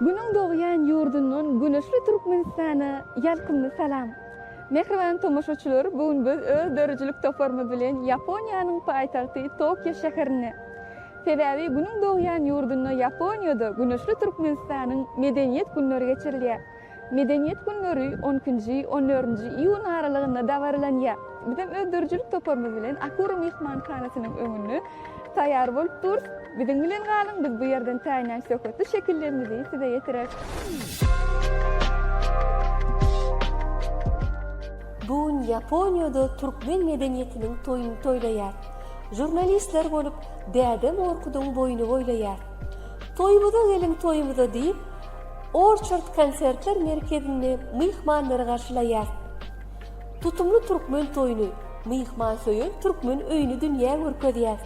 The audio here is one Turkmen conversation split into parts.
Günüň dogýan ýurdundan güneşli Türkmenistana ýalkymly salam! Mähriban tomaşaçylar, bu gün biz öz döredijilik toparymyz bilen Ýaponiýanyň paýtagty Tokio şäherinde. Sebäbi Günüň dogýan ýurdunda Ýaponiýada Güneşli Türkmenistanyň Medeniýet günleri geçirilýär. Medeniýet günleri on ikinji, on dördünji iýun aralygynda dabaralanýar. Bizem öz döredijilik toparymyz bilen Akura myhmanhanasynyň öňünde taýýar bolup durus. Biziň bilen galyň, biz bu ýerden täýinlän söhbetli şekillerimizi size ýetireris. Bu gün Ýaponiýada türkmen medeniýetiniň toýuny toýlaýar. Žurnalistler bolup Däde Morkudyň boýny boýlaýar. Toýumyza geliň, toýumyza diýip, Orçard konsertler merkezinde myhmanlary garşylaýar. Tutumly türkmen toýuny, myhmansöýer türkmen öýüni dünýä görkezýär.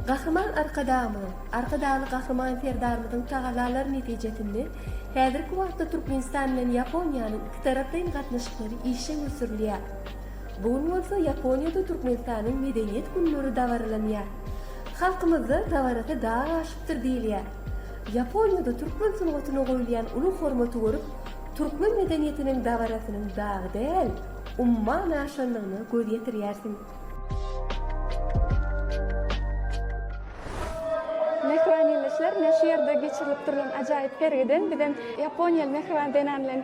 Gahryman Arkadagymyzyň, Arkadagly Gahryman Serdarymyzyň tagallalary netijesinde häzirki wagtda Türkmenistan bilen Ýaponiýanyň ikitaraplaýyn gatnaşyklary işjeň ösdürilýär. Bu gün bolsa Ýaponiýada Türkmenistanyň Medeniýet günleri dabaralanýar. Halkymyzda Dabarasy dag aşypdyr diýilýär. Ýaponiýada türkmen sungatyna goýulýan uly hormaty görüp, türkmen medeniýetiniň dabarasynyň dag däl, umman aşandygyna göz ýetirýärsiň. Mähriban ildeşler, mine şu ýerde geçirilip durlan ajaýyp sergiden bizem ýaponiýaly mähriban zenan bilen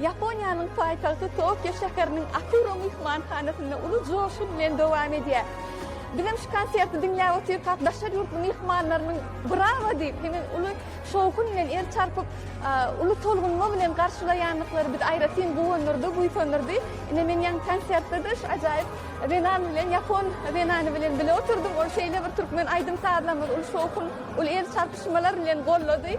Ýaponiýanyň paýtagty Tokio şäheriniň Akuro myhmanhanasynda uly joşgun bilen dowam edýär. Bizem şu konserti diňläp otyrkak, daşary ýurtly myhmanlarynyň brawo diýip, hemem uly şowhun bilen el çarpyp, uly tolgunma bilen garşylaýandyklary bizi aýratyn guwandyrdy, buýsandyrdy. Ine, men ýaňky konsertde-de şu ajaýyp zenan bilen, ýapon zenany bilen bile oturdym. Ol şeýle bir türkmen aýdym-sazlarymyzy uly şowhun, uly el çarpyşmalar bilen goldady.